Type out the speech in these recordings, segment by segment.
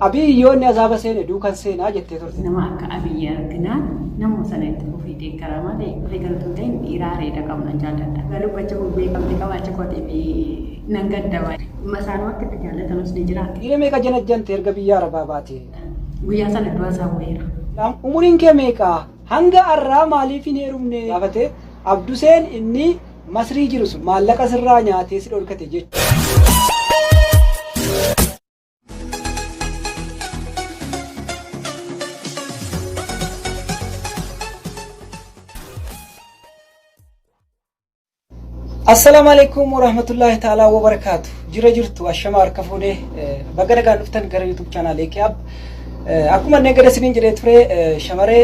Abiy yoo inni azaaba seene duukan seenaa jettee turte. Nama akka Abiy arginaan namuma sana itti fufii deeggara malee warri galtuu ta'in dhiiraa reeda qabna jaalladha. Garuu gocha kun beekamtii qabaachuu kootiif nan gadda baay'ee. Masaanuu akka itti jaallatamus ni jira. Dhiira meeqa janajjante erga biyya arabaa baate? Guyyaa sana du'a isaa wayiira. Umuriin kee meeqa? Hanga arraa maaliif hin heerumne? Gaafate Abduseen inni Masrii jiru sun maallaqa sirraa nyaatee si dhorkate jechuudha. Assalaamu alaikum warahmatullahi ta'ala wabarakaatu. Jira jirtu ashama harka fuudhee baga nagaan dhuftan gara YouTube channel Ekiyaab. Akkuma inni gada isiniin jedhee ture shamaree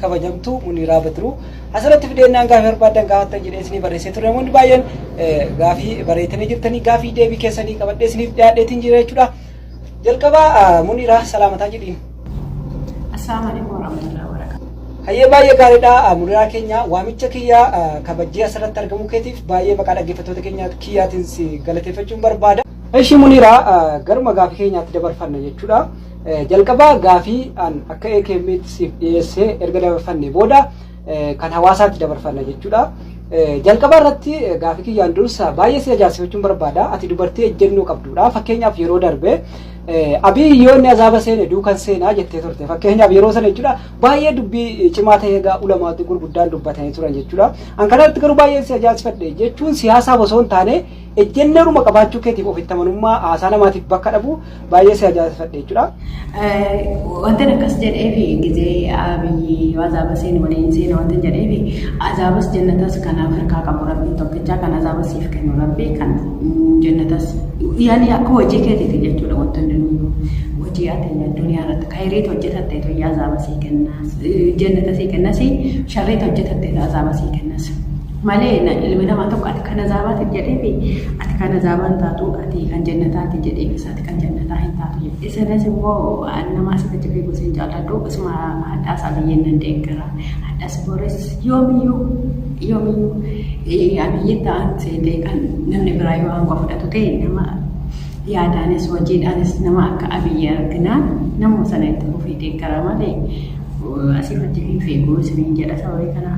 kabajamtuu Muniiraa Badruu. Asirratti fideennaan gaafii barbaaddan gaafattan jedhee isinii barreessee ture namoonni baay'een gaafii bareetanii jirtanii gaafii deebii keessanii qabadhee isiniif dhiyaadheetiin jira jechuudha. Jalqabaa Muniiraa salaamataa jedhiin. Assalamu alaikum warahmatullahi wabarakatuh. Hayyee baay'ee gaariidha Muniiraa keenya waamicha kiyya kabajjee asirratti argamuu keetiif baay'ee maqaa dhaggeeffattoota keenya kiyyaatiin si galateeffachuun barbaada. Eshi Muniiraa garuma gaafii keenyaatti dabarfanna jechuudha. Jalqaba gaafii an akka AKMitti siif dhiyeessee erga dabarfannee booda kan hawaasaatti dabarfanna jechuudha. Jalqaba irratti gaafii kiyyaan dursa baay'ee si ajaa'ibsiifachuun barbaada. Ati dubartii ejjennoo qabduudha. Fakkeenyaaf yeroo darbe Abiy yoo inni azaaba seene duukan seenaa jettee turte. Fakkeenyaaf yeroo sana jechuudha baay'ee dubbii cimaa ta'ee egaa ulamaatti gurguddaan dubbatanii turan jechuudha. An kanatti garuu baay'ee si ajaa'ibsiifadhe jechuun siyaasaaf osoo hin taane ejjennooruma qabaachuu keetiif ofitti amanummaa haasaa namaatiif bakka dhabu Baay'ee si ajaa'ibsiifadhe jechuudha. Wanti akkas jedheef gizee abiyyi azaaba seenu waliin seena wanti jedheef azaabas jannatas kan Afrikaa qabu rabbii tokkichaa kan azaabas siif kennu rabbii kan jannatas yaani akka hojii keetiiti jechuudha wanti hundinuu hojii ati addunyaa irratti kayiriit hojjetatte toyyaa azaaba sii kennas jannata sii kennas sharriit hojjetatte azaaba sii kennas. malee na ilmi namaa tokko ati kan azaabaatin jedheefi ati kan azaabaa hin taatu ati kan jannataati jedheefis ati kan jannataa hin taatu jedhe isinis immoo an namaa sifa jirri gosa hin jaalladhu isuma hadhaa isaa biyyeen nan deeggara hadhas boris yoomiyyuu yoomiyyuu abiyyiin ta'an seetee kan namni biraa yoo aangoo fudhatu ta'e nama yaadaanis hojiidhaanis nama akka abiyyi arginaan nama sana itti fufee deeggara malee asiif achi hin fiigu isiniin jedha sababii kanaa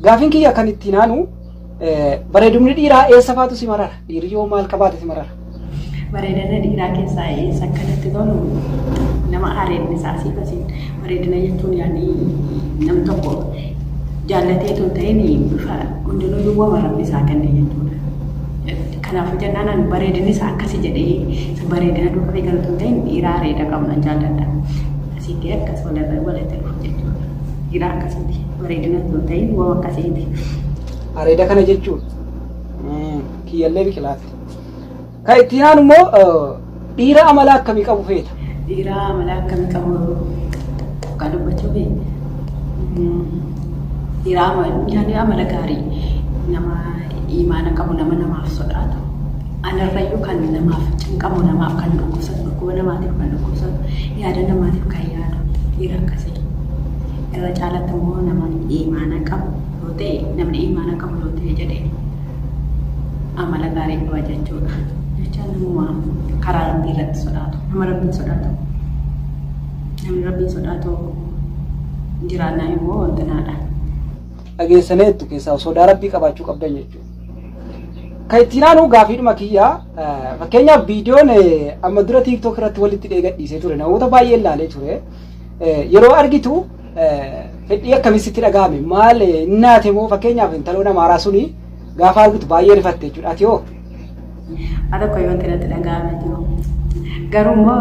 Gaafiin kiyya kan ittiin aanu bareedumni dhiiraa eessa faatu si marara? Dhiirri yoo maal qabaate si marara? Bareedina dhiiraa keessaa eessa akka natti tolu nama areedni isaa asii basiin bareedina jechuun yaani nam tokko jaallatee tun ta'een bifa hundinuu duwwama rabbi isaa kenne jechuudha. Kanaafuu jennaan ani bareedinni isaa akkasi jedhee isa bareedina dubartii galu tun ta'een dhiiraa areeda qabna jaalladha. Asitti akkas walirra walitti dhufu jechuudha. Dhiiraa akkasitti. Bareedina utuu hin ta'in woo akkasiiti. Areeda kana jechuun mm, kiyyallee biqilaatti. Kan itti aanu immoo eh, dhiira amala akkamii qabu feeta? Dhiira amala akkamii qabu kan dubbachuu fi dhiira amala yaani amala gaarii nama imaana qabu nama namaaf sodaatu. Anarrayyuu kan namaaf cinqamu namaaf kan dhukkubsatu dhukkuba namaatiif kan dhukkubsatu yaada namaatiif kan yaadu dhiira akkasii. Irra caalatti immoo nama iimaana qabu yoo ta'e namni iimaana qabu yoo ta'e jedhe amala gaarii qaba jechuudha. Jecha namuma karaa rabbii irratti sodaatu nama rabbiin sodaatu namni rabbiin sodaatu jiraannaa immoo wantanaadha. Dhageessaneettu keessaa sodaa rabbii qabaachuu qabdan jechuudha. Kan ittiin aanu gaafiidhuma kiyyaa fakkeenyaaf viidiyoon amma dura tiiktook irratti walitti dheegadhiisee ture namoota baay'een laalee ture. Yeroo argitu fedhii akkamii sitti dhaga'ame maal naate moo fakkeenyaaf intaloon amaaraa suni gaafa argitu baay'ee rifatte jechuudha ati hoo? Haadha koo wanti natti dhaga'ame jiru. Garuu immoo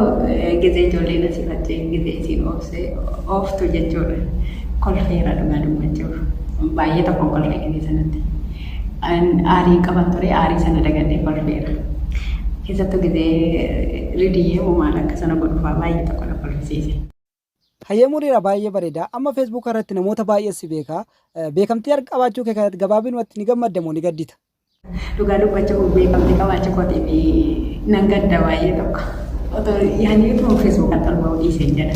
gizee ijoolleen asii faccee gizee isiin oofsee ooftu jechuudha. Kolfeera dhugaa dubbachuuf. Baay'ee tokko kolfee gizee sanatti. An aarii qaban ture aarii sana dagadhee kolfeera. Keessattuu gizee ridiyyee moo maal akka sana godhufaa baay'ee tokko na kolfisiise. Hayyee Muriira baay'ee bareeda. Amma Facebook irratti namoota baay'ee si beeka. Beekamtii arg- qabaachuu kee kanatti gabaabinumatti ni gammadda moo ni gaddita? Dhugaa dubbachuuf beekamtii qabaachuu kootiif nan gadda baay'ee tokko. Otoo yaadni utuu Facebook irratti ol ba'uu dhiiseen jedha.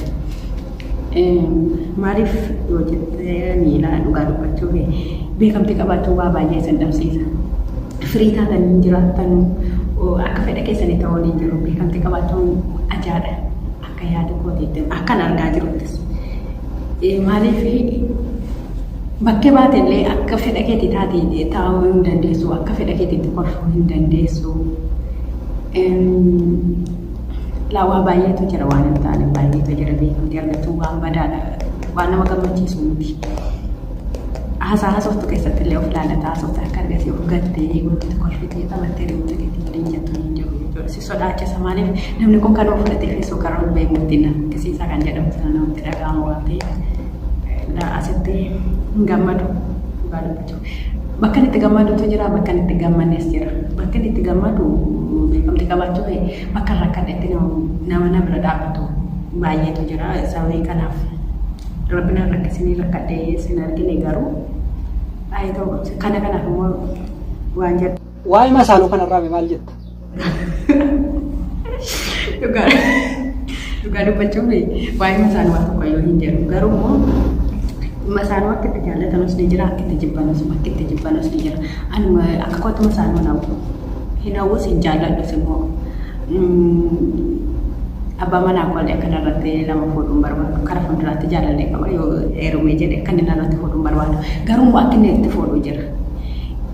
Maaliif yoo jettanii ilaa dhugaa dubbachuuf beekamtii qabaachuu waa baay'ee isin dhabsiisa. Firii taatan hin jiraattan akka fedha keessanii ta'uun hin jiru. Beekamtii qabaachuun ajaadha. Akka yaada kootiitti akkan argaa jiruttis. Maaliif bakkee baate illee akka fedha keetii taatee taa'uu hin dandeessu. Akka fedha keetiitti kolfuu hin dandeessu. Laa waa baay'eetu jira waan hin taane baay'eetu jira beekamtii argachuun waan badaadha. Waan nama gammachiisu miti. Haasaa haasoftu keessatti illee of ilaalata haasofte akka argasii of gattee gurgurtu kolfitee taphattee rimuuta keetii waliin jettu hin jiru jechuudha. Si sodaachisa maaliif namni kun kan of fudhatee fi suuqara of beeku itti na fokkisiisaa kan jedhamu sana namatti dhaga'ama waan ta'eef asitti hin gammadu dhugaa dubbachuu. Bakka inni itti gammadutu jira, bakka inni itti gammannes jira. Bakka inni itti gammadu beekamtii qabaachuu kee bakka hin rakkadhetti nama na bira dhaabbatu baay'eetu jira. Sababii kanaaf rabbi na rakkisinii rakkadhee sin argine garuu haa ta'u kana kanaaf immoo waan jedhu. Waa'ee masaaluu kanarraa mee maal jetta? Dhugaa dhugaa dubbachuuf waa'ee isaanii waan tokko yoo hin jedhu garuu immoo dhimma isaanii akka itti jaallatamus ni jira akka itti jibbanus akka itti jibbanus ni jira anuma akka koottuma isaanii hin hawwu hin hawwus hin jaalladhus immoo abbaa manaa koolee akka narratti nama fuudhuun barbaadu kara fuulduraatti jaalallee qaba yoo heerumee jedhe akka inni narratti fuudhuun barbaadu garuu immoo akka inni itti fuudhu jira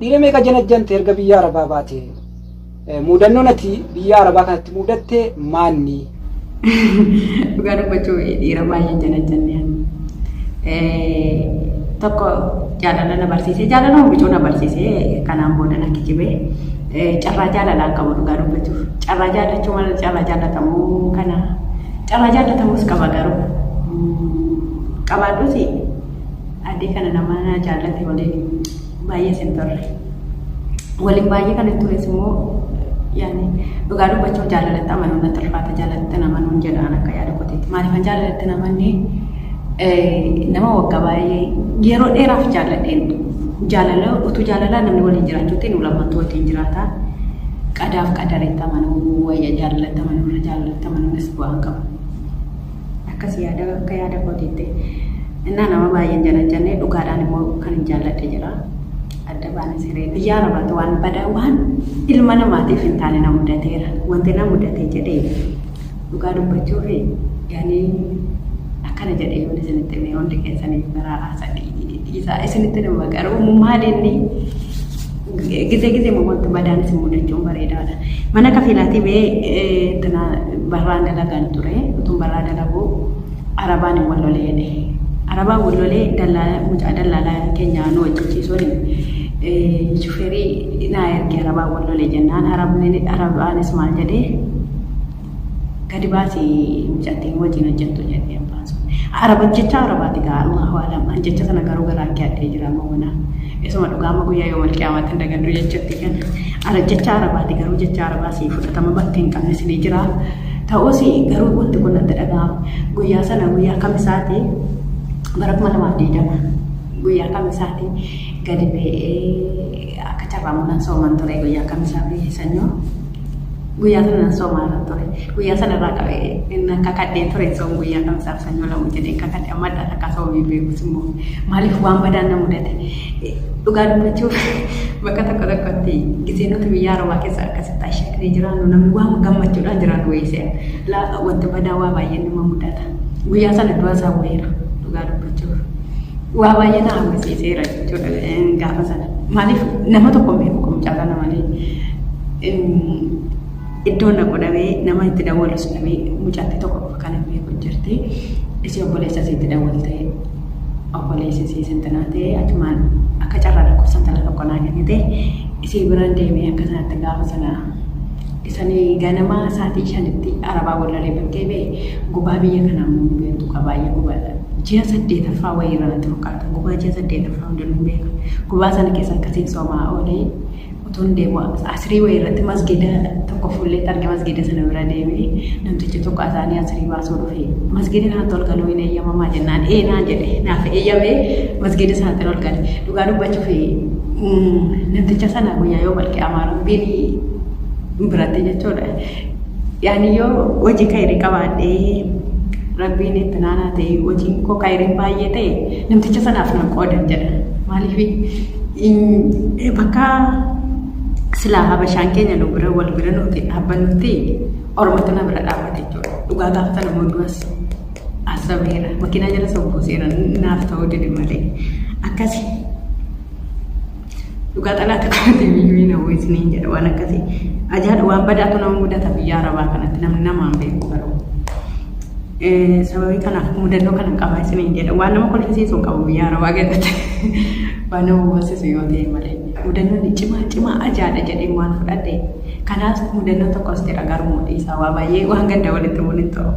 Dhiira meeqa janajjante erga biyya Arabaa baate? Muudannoon ati biyya Arabaa kanatti muudatte maanni? Dhugaa dubbachuu dhiira baay'ee janajjanne. Tokko jaalala na barsiisee jaalala hubicuu na barsiisee kanaan booda na kijibee carraa jaalalaan qabu dhugaa dubbachuuf. Carraa jaalachuu malee carraa jaalatamuu kana carraa jaalatamuus qaba garuu qabaadhuuti addee kana nama na jaallate waliin baay'ee sin turre. Waliin baay'ee kan hin tures immoo yaani dhugaa dubbachuuf jaalalatti amanuun natti ulfaata jaalalatti amanuun jedhaan akka yaada koteetti. Maaliif kan jaalalatti amanne nama waggaa baay'ee yeroo dheeraaf jaalladheen jaalala utuu jaalalaa namni waliin jiraachuutti nu lammatu wajjin jiraata. Qadaaf qadaritti amanuu wayya jaalalatti amanuun jaalalatti amanuunis bu'aan qaba. akkas yaada akka yaada kootiitti innaa nama baay'een janajjannee dhugaadhaan immoo kan hin jaalladhe jira adda baana siree biyyaa rabaatu waan badaa waan ilma namaatiif hin taane na mudateera wanti na mudatee jedhee dhugaa dubbachuu fi yaanii akkana jedhee yoon isinitti himee hundi keessaniif baraaraa sadii dhiisaa isinitti nama garuu maal inni Gizee gizeema wanti badaan isin mudachuun bareedaadha. Mana kafiilaatii bee tana barraan dalagan ture. Utuun barraa dalaguu arabaan hin wallole jedhe. Arabaan wallolee dallaala mucaa dallaalaa keenya nu hojjechiisuun shufeerii naa erge arabaan wallole jennaan arabni arabaanis maal jedhee Gadi baasi mucattiin wajjin hojjettu jedhee abbaan sun. Araba jecha arabaati gaaruma hawaalam. An jecha sana garuu garaa kee addee jira amma mana. Isuma dhugaa amma guyyaa yoo malqiyaamaatti hin dagadhu jechuutti kan. Ara jecha arabaati garuu jecha arabaa si fudhatama bakka hin qabne si ni jira. Ta'us garuu wanti kun natti dhaga'ama. Guyyaa sana guyyaa kamisaati bara kuma lamaaf digdama. Guyyaa kamisaati gadi ba'ee akka carraa munan sooman ture guyyaa kamisaa fi sanyoo. Guyyaa sana nan soomaaran ture. Guyyaa sana irraa qabee inni akka kadheen ture soom guyyaa kamisaaf sanyoo lamu jedhee akka kadhe amma adda takkaa soomii beekus immoo maaliif waan badaan na mudate dhugaa dubbachuuf bakka tokko tokkotti gisee nuti biyya arabaa keessa akkasitti ashaknee jiraannu namni waan gammachuudhaan jiraannu weessee wanti badaa waa baay'ee nama mudata. Guyyaa sana du'a isaa bu'eera dhugaa dubbachuuf. Waa baay'ee na hawwisiiseera jechuudha gaafa sana. Maaliif nama tokko hin beeku kun caalaa nama malee. Iddoo na godhamee nama itti dawwalu sun dhabee mucatti tokko qofa kan hin beeku jirti. Isii obboleessa isii itti dawwaltee obboleessi isii santanaa ta'ee achumaan akka carraa lakkoofsa intala tokko naa kennite isii biraan deemee akka sanatti gaafa sana Isani ganama saatii shanitti arabaa wallalee bakkee ba'e gubaa biyya kanaa immoo hin beektu kaa baay'ee gubaadha. Ji'a saddeetaffaa wayii irra natti fakkaata gubaa ji'a saddeetaffaa hundinuu hin beeka. Gubaa sana keessa akkasiin soomaa oolee utuun deemu asirii wayii irratti masgida tokko fuullee targe masgida sana bira deeme namtichi tokko azaanii asirii baasuu dhufe masgida kanatti ol galuu hin eeyyamamaa jennaan ee naan jedhe naaf eeyyamee masgida sanatti ol gale dhugaa dubbachuuf namticha sana guyyaa yoo malqiyaamaa rabbiin biratti jechuudha. Yaani yoo hojii kayrii qabaadhee rabbiin itti naanaa ta'e hojiin koo kayriin baay'ee ta'e namticha sanaaf nan qoodan jedha. Maaliif bakka silaa habashaan keenya nu bira wal bira nuti dhaabbannutti ormatu na bira dhaabbate jechuudha. Dhugaa gaafa sana mooduwas asabeera makiinaa jala sobbuuseera naaf ta'uu dide malee akkasi. Dhugaa xalaata qabatee biyyuu hin hawwu isiniin jedha waan akkasii. Ajaadha waan badaatu nama mudata biyyaa arabaa kanatti namni namaan beeku garuu. Eh, Sababii kanaaf mudannoo kana qabaa isiniin jedha waan nama kolfisiisu hin qabu biyyaa arabaa keessatti. Waan nama boonsisu yoo ta'e malee. Mudannoon cimaa cimaa ajaadha jedhee waan fudhadhe. Kanaas mudannoo tokkos jira garuu dhiisaa waa baay'ee waan gadda walitti bu'uun hin ta'u.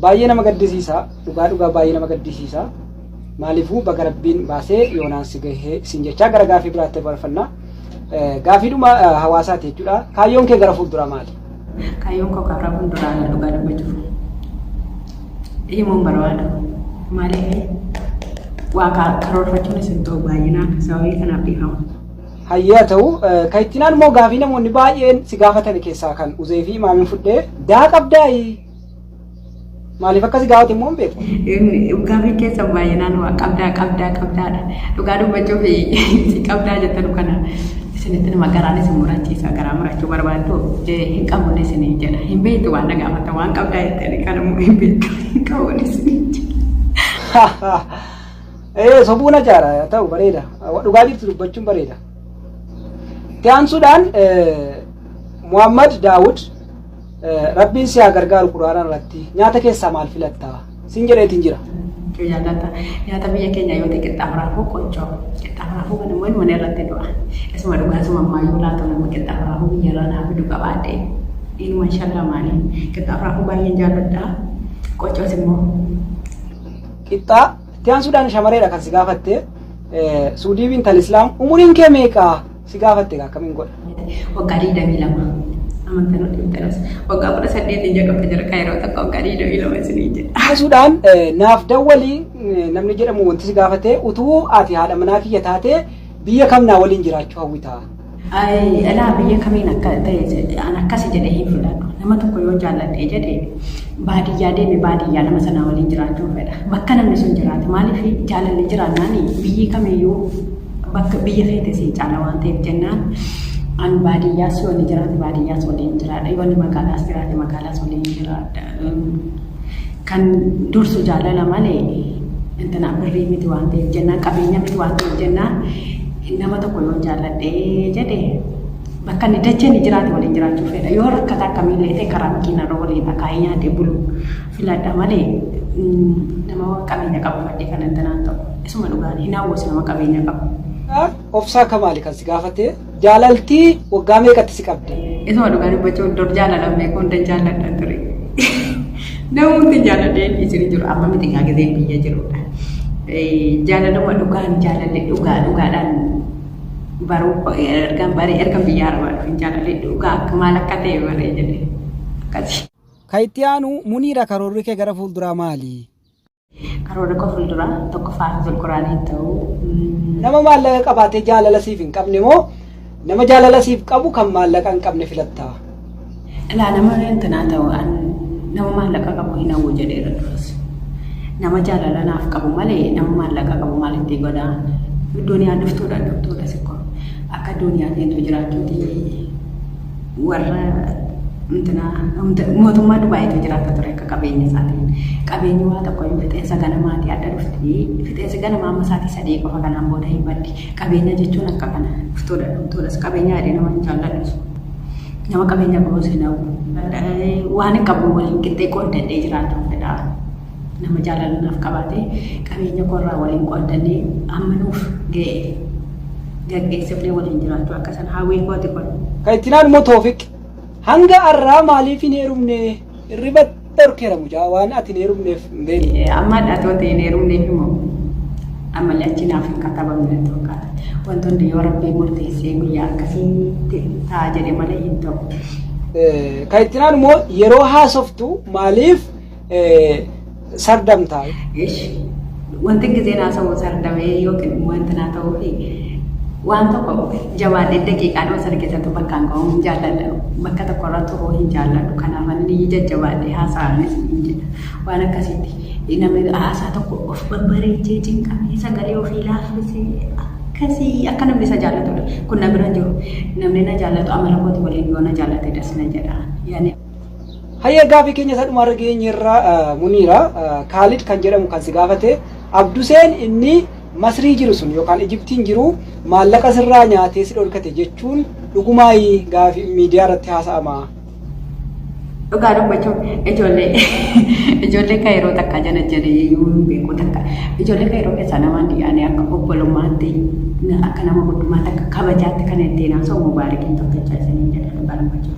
Baay'ee nama gaddisiisa. Dhugaa dhugaa baay'ee nama gaddisiisa. Maalifuu baga rabbiin baasee yoonaan si gahee isin jechaa gara gaafii biraatti barfanna. Gaafiidhuma hawaasaati jechuudha. Kaayyoon kee gara fuulduraa maali? Kaayyoon koo karaa fuulduraa dhugaa dubbachuuf himuun barbaadu. Maaliif waa karoorfachuun isin ta'u baay'inaan sababii kanaaf dhiifama. Hayyaa ta'u kan ittiin immoo gaafii namoonni baay'een si gaafatan keessaa kan uzee fi maamiin fudhee daa qabdaayii Maaliif akkasi gaafate immoo hin beeku. Gaaffiin keessan baay'inaan waa qabdaa qabdaa qabdaadha. Dhugaa dubbachuu fi si qabdaa jettan kana isinitti nama garaan isin murachiisa garaa murachuu barbaaddu hin qabne isin jedha. Hin beektu waan na gaafata waan qabdaa jettani kan immoo hin beektu hin qabne isin jedha. Ee sobuun ajaara ta'u bareeda. Dhugaa jirtu dubbachuun bareeda. Itti aansuudhaan Muhammad Daawud Rabbiin si haa gargaaru Qur'aanaa irratti nyaata keessaa maal filatta? Sin jedheetiin jira. Nyaata nyaata biyya keenya yoo ta'e qixxaa maraafuu qochoo qixxaa maraafuu kan immoo ilmanii irratti du'a. Isuma dhugaa isuma ammaa yoo laatu nama qixxaa maraafuu biyya irraa naa fidu qabaadhe. Ilma inshallah maali qixxaa maraafuu baay'een jaalladha. Qochoos immoo Qixxaa itti aansuudhaan shamareedha kan si gaafatte. Suudiibiin tal Islaam umuriin kee meeqa? Si gaafatte gaa akkamiin godha? Waggaa 22. Amantan wal dhibdanas. Waggaa 18 hin jedhamte jira kaayiroo takka waggaa 22 isinii jedha. Akkasuudhaan naaf dawwalii namni jedhamu wanti si gaafatee utuu ati haadha manaa kiyya taatee biyya kam naa waliin jiraachuu hawwitaa? Alaa biyya kamiin akka ta'e an akkasi jedhee hin fudhadhu. Nama tokko yoo jaalladhee jedhe baadiyyaa deeme baadiyyaa nama sanaa waliin jiraachuu fedha. Bakka namni sun jiraate maaliif jaalalli jiraannaan biyyi kamiyyuu bakka biyya keete sii caala waan ta'eef jennaan an baadiyyaas yoo inni jiraate baadiyyaas waliin jiraadha yoo inni magaalaas jiraate magaalaas waliin jiraadha kan dursu jaalala malee intina birrii miti waan ta'eef jennaan qabeenya miti waan ta'eef jennaan nama tokko yoo jaalladhee jedhe bakka inni dachee inni jiraate waliin jiraachuu fedha yoo rakkata akkamiillee ta'e karaa makiinarra waliin akaayee nyaatee bulu filadha malee nama qabeenya qabu fadhee kan intinaan ta'u. Isuma dhugaadha hin hawwus nama qabeenya qabu. Obsaa kamaali kan si gaafate jaalaltii waggaa meeqatti si qabde. Isuma dhugaa dubbachuun dur jaalala beekuu hundan jaalladha ture. Nama hundi jaaladhee dhiisanii jiru amma miti gaa gizeen biyya jirudha. Jaalaluma dhugaan jaalalli dhugaa dhugaadhaan baruu ergan baree ergan biyya arabaa dhufe jaalalli dhugaa akka maal akka ta'e baree jedhee akkasii. Ka itti aanu Muniira karoorri kee gara fuulduraa maali? Karoora koo fuulduraa tokkoffaa hafizul quraanii hin ta'u. Nama maallaqa qabaatee jaalala siif hin qabne moo nama jaalala siif qabu kan maallaqa hin qabne filatta? Ilaa nama intinaa ta'u an nama maallaqa qabu hin hawwu jedheera duras. Nama jaalala naaf qabu malee nama maallaqa qabu maal itti godhaa? Duniyaan dhuftuudha dhuftuudha sikkoo. Akka duniyaan deemtu jiraachuuti warra mootummaa Dubaayitu jiraata ture akka qabeenya isaatiin. Qabeenyi waa tokko yoo fixeensa ganamaatii adda dhufti. Fixeensi ganamaa amma isaatii sadii qofa kanaan booda hin baddi. Qabeenya jechuun akka kana dhuftoodha dhumtootas qabeenya yaadee nama hin jaalladhu. Nama qabeenya qabus hin hawwu. Waan hin qabu waliin qixxee qooddatee jiraachuuf fedha. Nama jaalala naaf qabaatee qabeenya koo irraa waliin qooddannee amma nuuf ga'e gaggeesse illee waliin jiraachuu akka san hawwii kooti kun. Kan itti naan immoo Toofiq hanga arraa maaliif hin heerumne irriba dhorkeera mucaa waan ati hin heerumneef hin beekne. Amma dhatoota hin heerumneef immoo ammallee achi naaf hin katabamne tokko wantoonni yoo rabbii murteessee guyyaa akkasiitti ta'a jedhe malee hin ta'u. Kan itti naan immoo yeroo haasoftu maaliif sardamtaa. Wanti gizeen haasa'u sardamee yookiin immoo wanti naa ta'uu fi waan tokko jabaadhee daqiiqaa dhoo sargitatu bakkaan ga'uu hin jaalladha. Bakka tokkorra turuu hin jaalladhu. Kanaaf ani jajjabaadhee haasa'anis hin jedha. Waan akkasiitti namni haasaa tokko of babbareechee cinqamee sagalee ofii laaffisee akkasii akka namni isa jaallatudha. Kun na bira jiru. Namni na jaallatu amala kooti waliin yoo na jaallate das na jedha. Hayyee gaafii keenya isa dhumaarra geenyerraa muniira Kaalid kan jedhamu kan si gaafate Abduseen inni Masrii jiru sun yookaan Ijiptiin jiru maallaqa sirraa nyaatee si dhorkate jechuun dhugumaayi gaafii miidiyaa irratti haasa'ama. Dhugaa dubbachuuf ijoollee ijoollee kaayiroo takka jala jala yoo beeku takka ijoollee kaayiroo keessaa namaan dhiyaanii akka obbolummaatti akka nama guddummaatti akka kabajaatti kan ittiin haasa'u mubaarikiin tokkicha isiniin jedha dhugaa dubbachuuf.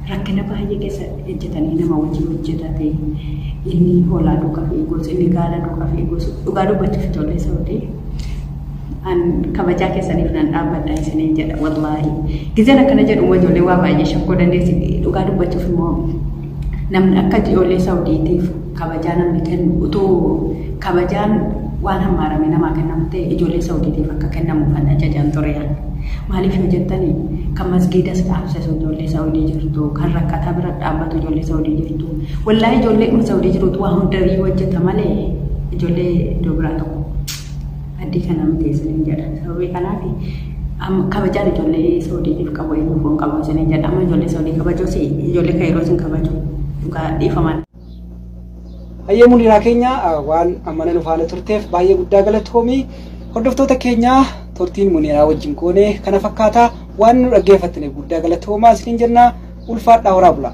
Rakkina baay'ee keessa ejjetanii nama wajjin hojjetate inni hoolaa duuka fiigus inni gaala duuka fiigus dhugaa dubbachuuf ijoollee saudii an kabajaa keessaniif nan dhaabbadha isiniin jedha wallaahi gizeen akkana jedhu immoo ijoollee waa baay'ee shakkuu dandeessi dhugaa dubbachuuf immoo namni akka ijoollee saudiitiif kabajaa namni kennu utuu kabajaan waan hammaarame namaa kennamu ta'e ijoollee saudiitiif akka kennamu kan ajajaan ture Maaliif yoo jettan kan masgiidas dhaabsisu ijoollee Saawudii jirtu, kan rakkataa bira dhaabbatu ijoollee Saawudii jirtu. Wallaahii ijoollee dhuma Saawudii jirutu waa hunda iyyuu hojjeta malee ijoollee iddoo biraa tokko addii kana miti isiniin jedha. Sababii kanaaf am- kabajaan ijoollee Saawudiitiif qabu eenyuuf hin qabu isiniin jedha. Amma ijoollee Saawudii kabajuus ijoollee Kaayiroos hin kabaju. Dhugaa dhiifamaan. Hayyee Muniraa keenya waan ammana nu faana turteef baay'ee guddaa galatoomi. Hordoftoota keenya turtiin Muniraa wajjin goone kana fakkaata. Waan nu dhaggeeffattaniif guddaa galatoomaa isiniin jenna. Ulfaadhaa horaa bulaa.